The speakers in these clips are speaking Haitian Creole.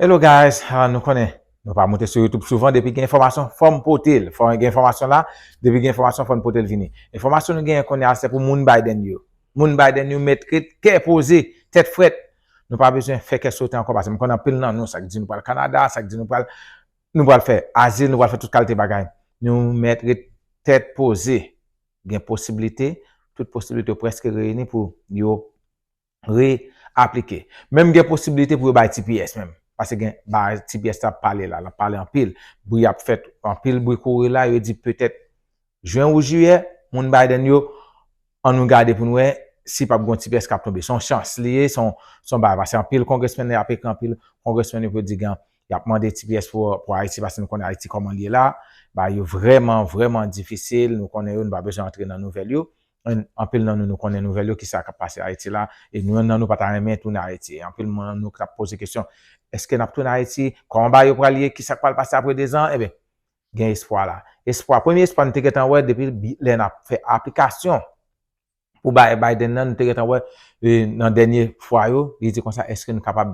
Hello guys nou konnen Nou pa moute sou youtube souvan depi gen enfòmasyon fòm potel fò gen enfòmasyon la depi gen enfòmasyon fòn potel vini enfòmasyon nou genyen kounya se pou moun Biden yo moun Biden yo mèt ret kè poze tèt frèt nou pa bezwen fè kè sote ankò paskem konn anpil nan nou sak di nou pral Canada sak di nou pral nou pral fè azil nou pral fè tout kalte bagay nou mèt ret tèt poze gen posiblite tout posiblite yo prèske reyini pou yo. re aplike. Menm gen posibilite pou yo bay tps menm. Pase gen bagay tps la ap pale la. Lap pale anpil. Bri ap fèt. Anpil bri kouri la. Yo di petèt jwen ou jiyè. Moun Biden yo. An nou gade pou nou wè. Si pap gon tps kap tonbe. Son chans li ye. Son bagay. Pase anpil kongresmen yo ap ekri anpil. Kongresmen yo pou yo di gen. Yap mande tps pou Ayiti. Pase nou konnen Ayiti koman li ye la. Bagay yo vreman vreman difisil. Nou konnen yo. Nou pa bezwen antre nan nouvel yo. Anpil nan nou nou konnen nouvèl yo kisa kap pase Ayiti la e nou yon nan nou pata renmen tounen Ayiti e anpil nan nou kap poze kesyon eske nap tounen Ayiti kòman bagay yo pral ye kisak pral pase apre 2 zan ebyen gen espwa la espwa premye espwa nou te gentan wè depi lè nap fè aplikasyon pou bay Biden nan nou te gentan wè nan dènye fwa yo li di konsa eske nou kapab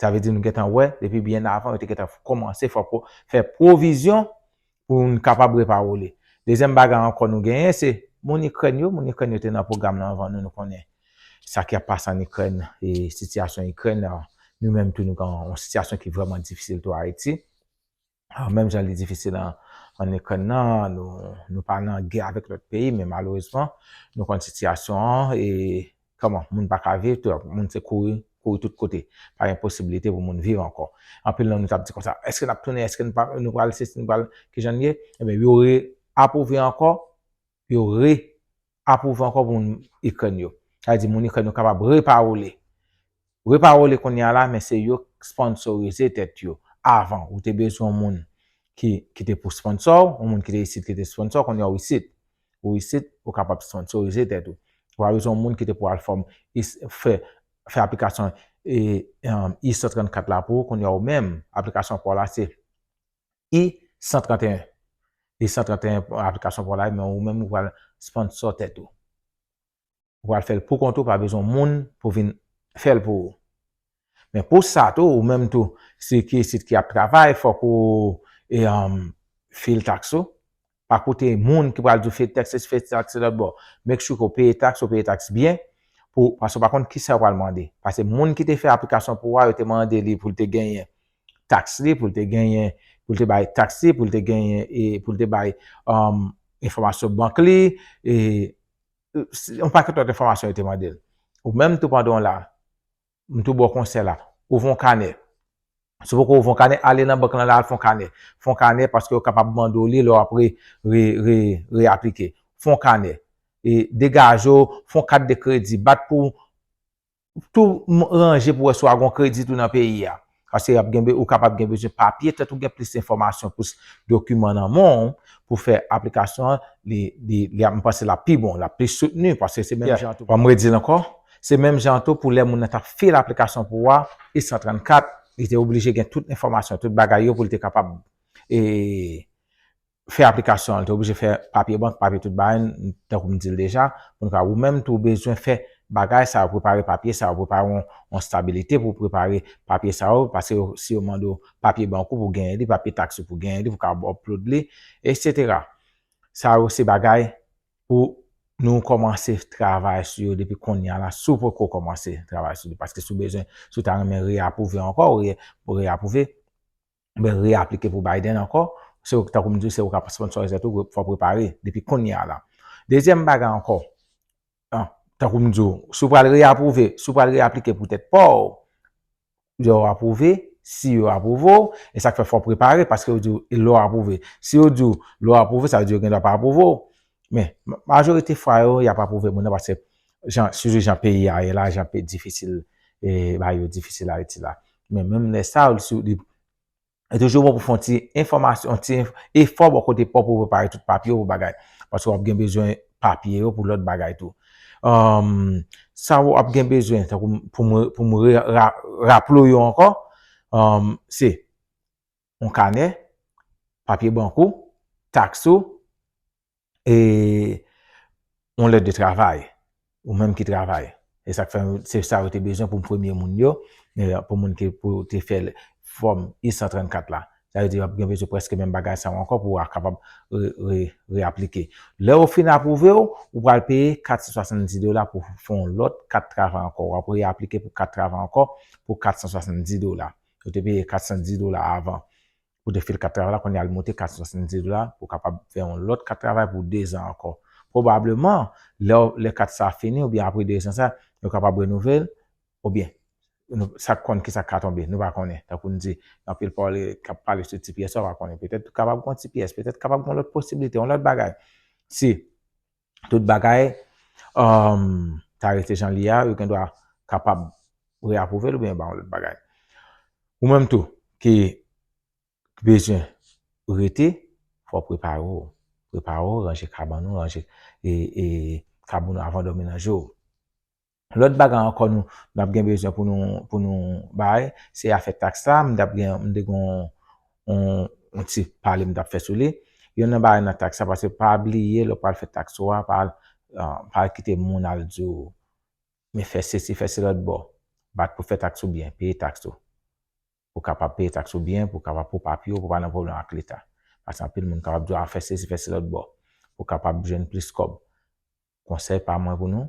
Sa vle di nou gentan wè, depi byen avan, yo te gentan kòmanse fè pou, fè pwovizyon pou moun kapab repawole. Dezyèm bagay ankò nou genyen se, moun Ikrèn yo, moun Ikrèn yo te nan pwogram nan avan nou, nou konnen sa ki ap pase an Ikrèn e sitiyasyon Ikrèn, nou menm tou nou gen yon sitiyasyon ki vrèman difisil tou Ayiti. Ah, menm jan li difisil an, an Ikrèn nan, nou, nou pa nan gè avèk lòt peyi, men malerezman, nou konn sitiyasyon an, e, kòman, moun pa ka viv, tout, moun se kouri, kouri tout kote. Pa gen posibilite pou moun viv ankò. Anpil nan nou t ap di konsa, èske n ap tounen, èske n pa, nou pral sesi, nou pral, ki jan n ye? Enben, yo re-apwouve ankò, pou yo re apwouve ankò pou moun Ikrèn yo. Sa vle di moun Ikrèn yo kapab repawole. Repawole kounye a la men se yo k sponsorize tèt yo. Avan ou te bezwen yon moun ki ki te pou sponsò w, yon moun ki te isit ki te sponsò w, kounye a ou isit. Ou isit, ou kapab sponsorize tèt ou. Ou pa bezwen yon moun ki te pou al fòm is fè fè aplikasyon e e Iso 34 la pou ou, kounye a ou menm aplikasyon pa w la se. I 131 I 131 pou aplikasyon pou w live men ou menm ou pral sponsor tèt ou. Ou pral fè l pou kont ou pa bezwen moun pou vin fè l pou ou. Men pou sa tou ou menm tou si ki isit ki ap travay fòk ou fil tax ou pa koute moun ki pral di w fè taks sesi fè taks se lòtbò make sure ke w peye taks ou peye taks byen pou paske w pa konn kisa yo pral mande paske moun ki te fè aplikasyon pou ou a yo te mande li pou l te genyen taks li pou l te genyen pou l te bay taks li pou l te genyen e pou l te bay enfòmasyon bank li e yon pakèt lòt enfòmasyon yo te mande l ou menm tou pandan w la M tou baw konsèy la. Ouvè yon kanè. Si w poko ouvè yon kanè, ale nan bank lan la al fè yon kanè. Fè yon kanè paske yo kapab mande w li lè w ap re, re, re, reaplike. Fè yon kanè. E degaje w, fè yon kat de kredi. Bat pou w tou ranje pou w wè si w a gen yon kredi tou nan peyi a. Paske y ap gen be, ou kapab gen bezwen papye tèt ou gen plis enfòmasyon plis dokiman nan men w pou fè aplikasyon an, li, li, li ap, m panse l ap pi bon, l ap plis soutni paske se menm jan tou, an m redi l ankò, se menm jan tou pou lè moun nan t ap fil aplikasyon pou ou a, I 134, li te oblije gen tout enfòmasyon, tout bagay yo pou l te kapab e, fè aplikasyon an, li te oblije fè papye bank, papye tout bagay, tankou m di l deja, pou n ka, ou menm tou ou bezwen fè bagay sa yo, prepare papye sa yo, prepare yon stabilite pou prepare papye sa yo, pase yo, si yo mande w papye bank ou pou genyen li, papye taks ou pou genyen li, pou ka upload li, eksetera. Sa yo se bagay pou nou kòmanse travay sou yo depi konnya la, si w poko kòmanse travay sou li, paske si w bezwen, si w ta renmen re-apwouve ankò, ou re-apwouve, oubyen reaplike pou Biden ankò, se ou, tankou m di w, se ou k ap sponnsòrize tou, fò w prepare depi kounye a la. Dezyèm bagay ankò, tankou m di w, si w pral reapwouve, si w pral reaplike pou tèt pa w, lè w apwouve, si yo apwouve w, e sa k fè fò w prepare, paske yo di w lè w apwouve. Si yo di w lè w apwouve, sa vle di yo gendwa pa apwouve w. Men, majorite fwa yo, y ap apwouve moun nan paske jan, sitou jan peyi a ye la, jan peyi difisil, e bagay yo difisil Ayiti la. Men menm lè sa, ou si ou li, li toujou bon pou fè yon ti enfòmasyon, yon ti efò bò kote pa w pou prepare tout papye ou bagay. Paske w ap gen bezwen papye yo pou lòt bagay tou. Sa ou ap gen bezwen, tankou m, pou m, pou m re, ra, raple w yo ankò, se, yon kanè, papye bank ou, taks ou, e yon lèt de travay, ou menm ki travay. E sa k fè, se sa yo te bezwen pou premye moun yo, pou moun ki pou te fè fòm I-134 la. Sa vle di yo ap gen bezwen prèske menm bagay sa yo ankò pou a kapab re-aplike. Lè yo fin apwouve ou, ou pral peye 470 dola pou fè yon lòt kat travay ankò. Ou ap re-aplike pou kat travay ankò pou 470 dola. Yo te peye 410 dola avan pou 2 fil kat travay la, kounye a li moute 470 dola pou w kapab fè yon lòt kat travay pou 2 zan ankò. Pwobableman, lè w, lè kat sa a fini oubyen apre 2 zan sa a, yo kapab renouvle l oubyen nou, sa k konn kisa k ka tonbe, nou pa konnen. Tankou n di, gen anpil pawòl k ap pale sou ti pyès sa w pa konnen. Petèt kapab gen yon ti pyès, petèt kapab gen yon lòt posiblite, yon lòt bagay. Si. tout bagay ta rete jan li a, yo gen dwa kapab re-apwouve l oubyen ba yon lòt bagay. Ou menm tou ki bezwen rete, fò w prepare w. Prepare w, ranje kabann ou, ranje kabann ou avan w dòmi nan je w. Lòt bagay ankò nou n ap gen bezwen pou nou pou nou bay, se afè taks la. M t ap gen m te gen yon ti pale m t ap fè sou li. Yonn nan bagay nan taks la pase pa bliye lè w pral fè taks ou a pa al pa al kite moun al di w men fè sesi fè se lòt bò. Bat pou w fè taks ou byen, peye taks ou. Pou w kapab peye taks ou byen, pou w kapab pou papye w pou w pa nan pwoblèm ak leta. Pase anpil moun kapab di w a fè sesi fè se lòt bò pou w kapab jwenn plis kòb. Konsèy pa mwen pou nou,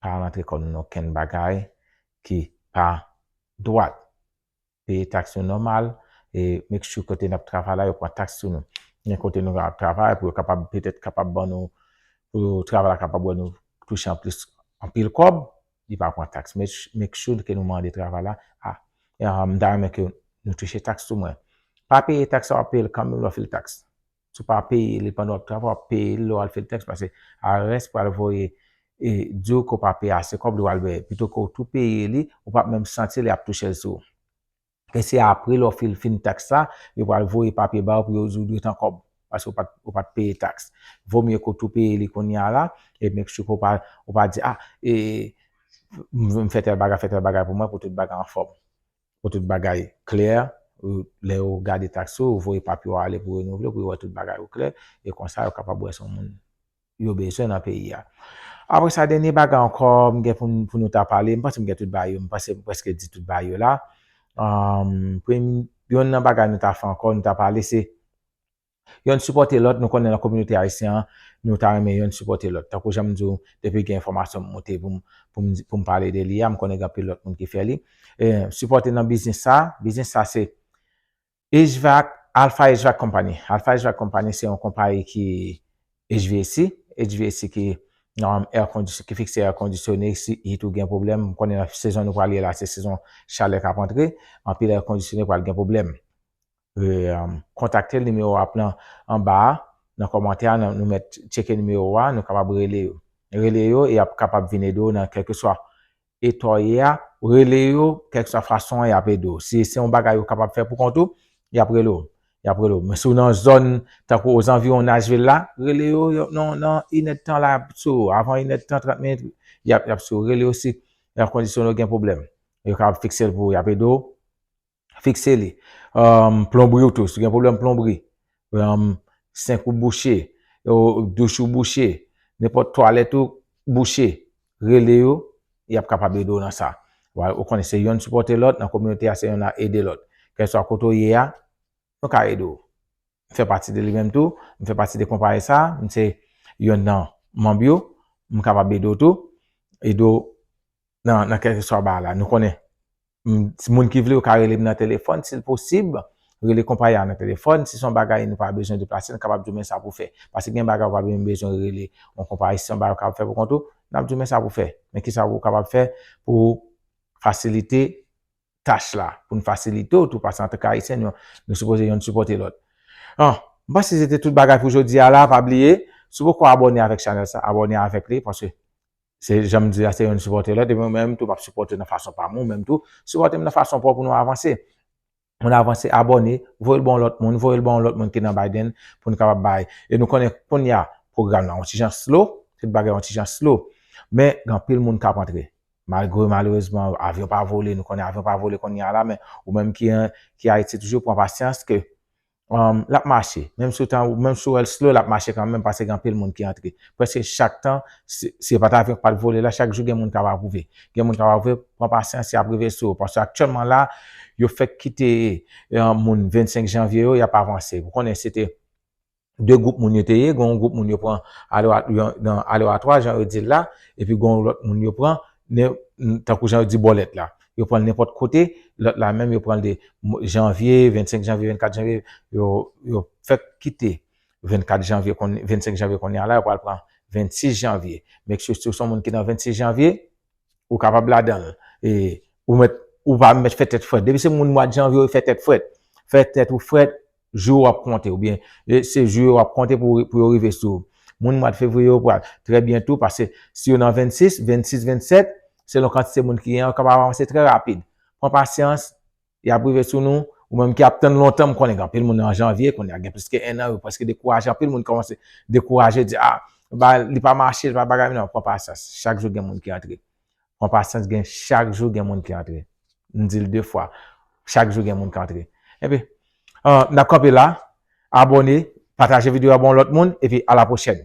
pa rantre kò nou nan okenn bagay ki pa dwat. Peye taks nou nòmal e make sure kote nap travay la yo pran taks sou nou. Gen kote nou ap travay pou yo kapab petèt kapab ban nou, pou travay la kapab wè nou touche anplis anpil kòb, li pa pran taks. Make sure ke nou mande travay la, m ta renmen ke nou touche taks sou mwen. Pa peye taks sa wap peye l kanmenm lè w fè l taks. Si w pa peye li pandan w ap travay, w ap peye li lè w al fè l tèks pase IRS pral voye e di w ke w pa peye ase kòb li w al bèè. Pito ke w tou peye li, ou pap menm santi li ap touche l sou ou. E se apre lè w fil fin taks la, yo pral voye papye ba w pou yo di w dwe tan kòb paske w pat ou pat peye taks. Vo mye ke w tou peye li kounye a la e make sure ke w pa ou pa di ah e m fè tèl bagay fè tèl bagay pou mwen pou tout bagay anfòm. Pou tout bagay klè, lè yo gade tax ou, yo voye papye w ale pou renouvle pou yo wè tout bagay yo klè e konsa yo kapab wè si w se moun yo bezwen nan peyi a. Apre sa, dènye bagay ankò m gen pou nou ta pale, m panse m gen tout bagay yo, m panse m prèske di tout bagay yo la. Yonn nan bagay nou ta fè ankò, nou ta pale se Yonn sipòte lòt, nou konnen nan kominote ayisyen an, nou ta renmen yonn sipòte lòt. Tankou jan m di w, depi gen enfòmasyon m moute pou m pou m pale de li a, m konnen gen anpil lòt moun ki fè li. Sipòte nan biznis sa, biznis sa se HVAC, Alpha HVAC Company. Alpha HVAC Company se yon konpayi ki HVAC, HVAC ki nan air condition, ki fikse air conditionne, si it ou gen pwoblèm, m konnen nan sezon nou pral ye la se sezon chalè k ap antre, anpil air conditionne pral gen pwoblèm. kontakte l nimewo ap lan anba a nan kòmantè a nou mèt tcheke nimewo a nou kapab rele yo rele yo e ap kapab vin ede w nan kèlkeswa eta w ye a rele yo kèlkeswa fason an y ap ede w si se yon bagay ou kapab fè poukont ou y ap rele w y ap rele w men si w nan zòn tankou ozanviwon Nashville la rele yo nan inèdtan la y ap sou ou avan inèdtan trant minit y ap sou ou rele yo si nan kondisyon ou gen pwoblèm yo kapab fikse l pou ou y ap ede w Fikse li. Plonbri ou tou. Si w gen pwoblèm plonbri. Senk ou bouche. Douch ou bouche. Nenpòt twalèt ou bouche. Rele yo. Y ap kapab ede w nan sa. Ou konnen se yonn sipòte lòt. Nan kominote a se yonn ap ede lòt. Kèlswa kote ou ye a. Nou ka ede w. M fè pati de li menm tou. M fè pati de konpayi sa. M se yonn nan manb yo. M kapab ede w tou. Ede w nan kèlkeswa bagay la. Nou konnen. Moun ki vle yo ka rele m nan telefòn si l posib. Rele konpayi a nan telefòn. Si se yon bagay nou pa bezwen deplase, nou kapab di w men sa pou w fè. Paske gen bagay ou pa menm bezwen rele yon konpayi. Si se yon bagay ou kapab fè pou kont ou, n ap di w men sa pou w fè. Men ki sa ou kapab fè pou w fasilite tach la. Pou n fasilite w tou paske antanke Ayisyen nou sipoze youn sipòte lòt. M panse se te tout bagay pou jodi a la. Pa bliye, si w poko abòne avèk chanèl sa, abòne avèk li paske. Se janm di la se youn sipòte lòt epi mwen menm tou map sipòte nan fason pam ou menm tou sipòtem nan fason paw pou nou avanse ann avanse abòne voyel ba yon lòt moun voyel ba yon lòt moun ki nan Biden poun kapab bay e nou konnen kounya pwogram nan yon ti jan slo tout bagay yon ti jan slo men gen anpil moun kap antre malgre malerezman avyon pa vole nou konnen avyon pa vole kounya la men ou menm ki ayiti toujou pran pasyans ke Um, l ap mache. Menm si w ta, menm si w wè l slow, l ap mache kanmenm paske gen anpil moun ki antre. Prèske chak tan, si, si e pa t avyon ki pa t vole la, chak jou gen moun k ap apwouve. Gen moun k ap apwouve, pran pasyans, y ap rive sou ou. Paske aktyèlman la, yo fèk kite um, moun 25 janvye yo, y ap avanse. Ou konnen se te 2 gwoup moun yo te ye, gen yon gwoup moun yo pran alewatwa, jan yo di l la, epi gen yon lòt moun yo pran, tankou jan yo di bòlèt la. Yo pranl nenpòt kote, lòt la menm yo pranl de janvye, 25 janvye, 24 janvye, yo fèk kite 24 janvye, 25 janvye kounye a la, yo pral pran 26 janvye. Make sure si w se yon moun ki nan 26 janvye, ou kapab ladan l. E ou mèt, ou pa mèt fè tèt frèt. Depi se moun mwad janvye yo fè tèt frèt. Fè tèt ou frèt. Jou yo ap konte oubyen se jou yo ap konte pou yo rive sou ou. Moun mwad fevriye yo pral trè byen tou paske si yo nan 26, 26, 27, selon kantite moun ki gen yo kapab avanse trè rapid. Pran pasyans, y ap rive sou nou. Ou menm ki ap tann lontan, m konnen gen anpil moun nan janvye kounye a gen plis ke 1 an yo prèske dekouraje, anpil moun kòmanse dekouraje di a li pa mache, li pa bagay m nan pran pasyans chak jou gen moun ki antre. Pran pasyans gen chak jou gen moun ki antre. M di l 2 fwa. Chak jou gen moun k antre. Enpi, n ap kanpe la. Abòne, pataje videyo a ba yon lòt moun epi alapwochèn.